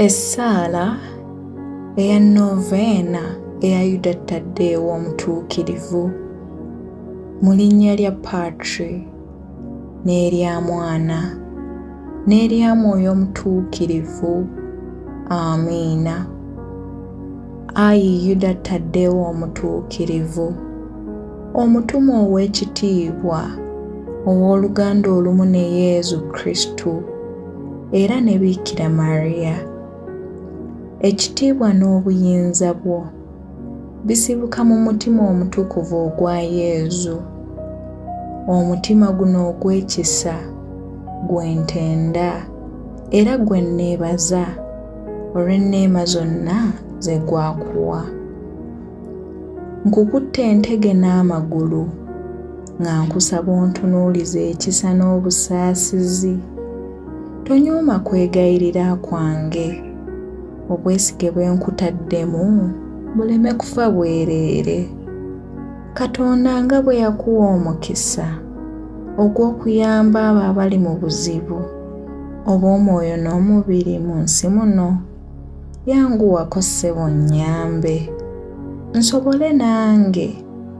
essaala eya noveena eya yuda taddeewo omutuukirivu mu linnya lya patri n'erya mwana n'erya mwoyo omutuukirivu amiina ayi yuda taddeewo omutuukirivu omutuma ow'ekitiibwa ow'oluganda olumu ne yezu kristu era ne Biikira Maria. Ekitiibwa n'obuyinza bwo bisibuka mu mutima omutukuvu ogwa Yezu. Omutima guno ogw'ekisa gwe ntenda era gwe nneebaza olw'enneema zonna ze gwakuwa. Nkukutte entege n'amagulu. nga nkusaba ontunuulize ekisa n'obusaasizi tonyooma kwegayirira kwange obwesige bwe nkutaddemu buleme kufa bwereere katonda nga bwe yakuwa omukisa ogw'okuyamba abo abali mu buzibu obw'omwoyo n'omubiri mu nsi muno yanguwako ssebo nnyambe nsobole nange